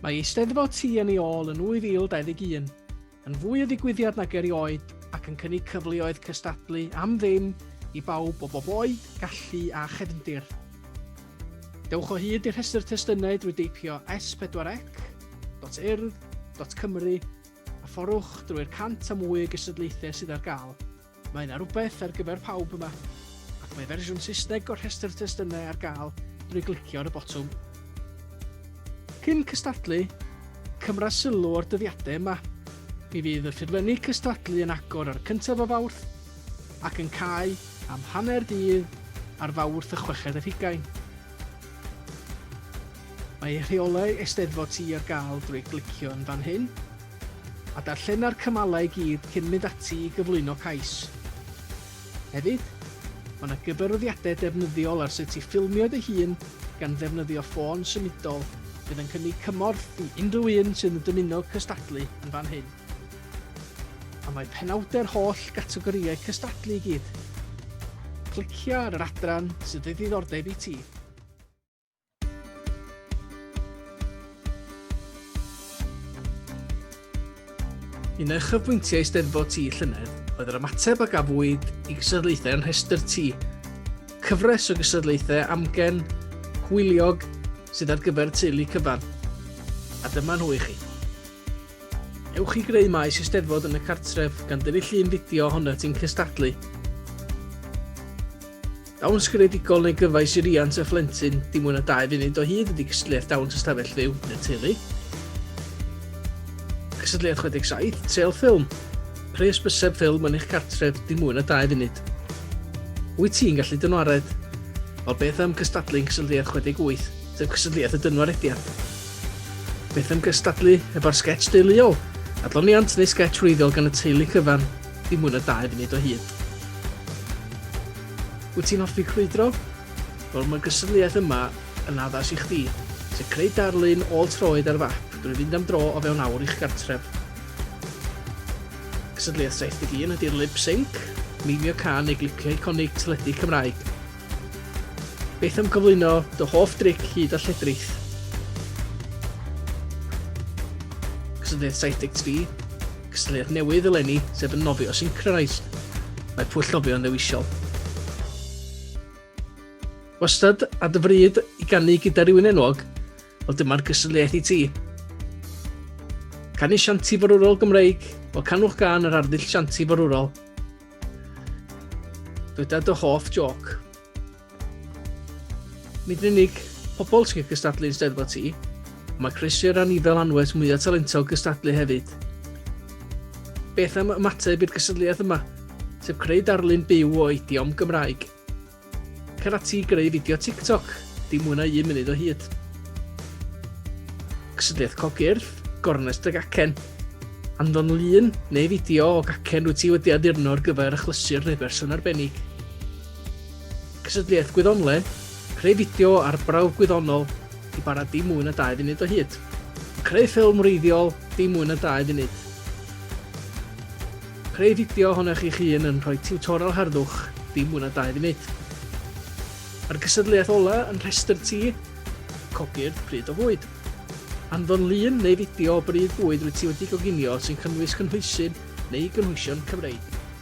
Mae Eisteddfod Ti yn ei ôl yn 2021, yn fwy o ddigwyddiad nag erioed ac yn cynnig cyfleoedd cystadlu am ddim i bawb o bob oed, gallu a chefndir. Dewch o hyd i'r rhestr testunau drwy deipio s4ec.urdd.cymru A phorwch drwy'r cant a mwy o gystadlaethau sydd ar gael. Mae yna rywbeth ar gyfer pawb yma. Ac mae fersiwn Saesneg o'r rhestr testunau ar gael drwy glicio ar y botwm. Cyn cystadlu, cymra sylw o'r dyddiadau yma. Mi fydd y ffurflenni cystadlu yn agor ar y cyntaf o Fawrth ac yn cau am hanner dydd ar Fawrth y chweched ar hugain. Mae rheolau Eisteddfod Ti ar gael drwy glicio yn fan hyn, a darllena'r cymalau i gyd cyn mynd ati i gyflwyno cais. Hefyd, mae yna gyfarwyddiadau defnyddiol ar sut i ffilmio dy hun gan ddefnyddio ffôn symudol fydd yn cynnig cymorth i unrhyw un sydd yn dymuno cystadlu yn fan hyn. A mae penawdau'r holl gategorïau cystadlu i gyd. Clicia ar yr adran sydd o ddiddordeb i ti. Un o uchafbwyntiau Eisteddfod Tŷ llynedd oedd yr ymateb a gafwyd i gystadlaethau yn rhestr tŷ. Cyfres o gystadlaethau amgen, hwyliog, sydd ar gyfer teulu cyfan. A dyma nhw i chi. Ewch i greu maes Eisteddfod yn y cartref gan dynnu llun fideo ohono ti'n cystadlu. Dawns greadigol neu gyfais i riant a phlentyn dim mwy na dau funud o hyd ydy cystadleuaeth dawns ystafell fyw neu'r teulu. Cystadleuaeth 67, Trel Ffilm. Pres bysedd ffilm yn eich cartref dim mwy na dau funud. Wyt ti'n gallu dynwared? Wel, beth am gystadlu yn cysylltiad 68, sef cysylltiad y dynwarediad? Beth am gystadlu efo'r sketch deuluol? Adloniant neu sketch wreiddiol gan y teulu cyfan, dim mwy na dau funud o hyd. Wyt ti'n hoffi crwydro? Wel, mae'r gystadleuaeth yma yn addas i chdi, sef creu darlun ôl-troed ar fap drwy fynd am dro o fewn awr i'ch gartref. Cystadleuaeth 71 ydy'r lip sync, mimio can neu glicio iconig teledu Cymraeg. Beth am gyflwyno dy hoff dric hyd a lledrith? Cystadleuaeth 73 Cystadleuaeth newydd eleni, sef yn nofio Syncronise. Mae pwll nofio'n ddewisol. Wastad a dy fryd i gannu gyda rhywun enwog, wel dyma'r gystadleuaeth i ti. Canu sianti forwrol Gymreig, o canwch gan yr arddull sianti forwrol. Dyda dy hoff joc. Nid yn unig pobl sy'n cystadlu yn Steddfod Ti, mae croeso i'r anifail anwes mwyaf talentog gystadlu hefyd. Beth am ymateb i'r gystadleuaeth yma, sef creu darlun byw o idiom Gymraeg? Cer ati i greu fideo TikTok, dim mwy na un munud o hyd. Cystadleuaeth cogyrth, gornes dy gacen. Anfon lun neu fideo o gacen rwy ti wedi addurno ar gyfer achlysur neu berson arbennig. Cysylltiaeth Gwyddonled, Creu fideo ar brawf gwyddonol, i ba radd dim mwy na 2 funud o hyd. Creu ffilm wreiddiol, dim mwy na 2 funud. Creu fideo ohonoch chi'ch hun yn rhoi tiwtorel harddwch, dim mwy na 2 funud. Mae'r cysylltiaeth ola yn rhestr ti, copi'r pryd o fwyd. Anfon lun neu fideo o bryd bwyd rwy ti wedi goginio sy'n cynnwys cynhwysydd neu gynhwysion Cymreig.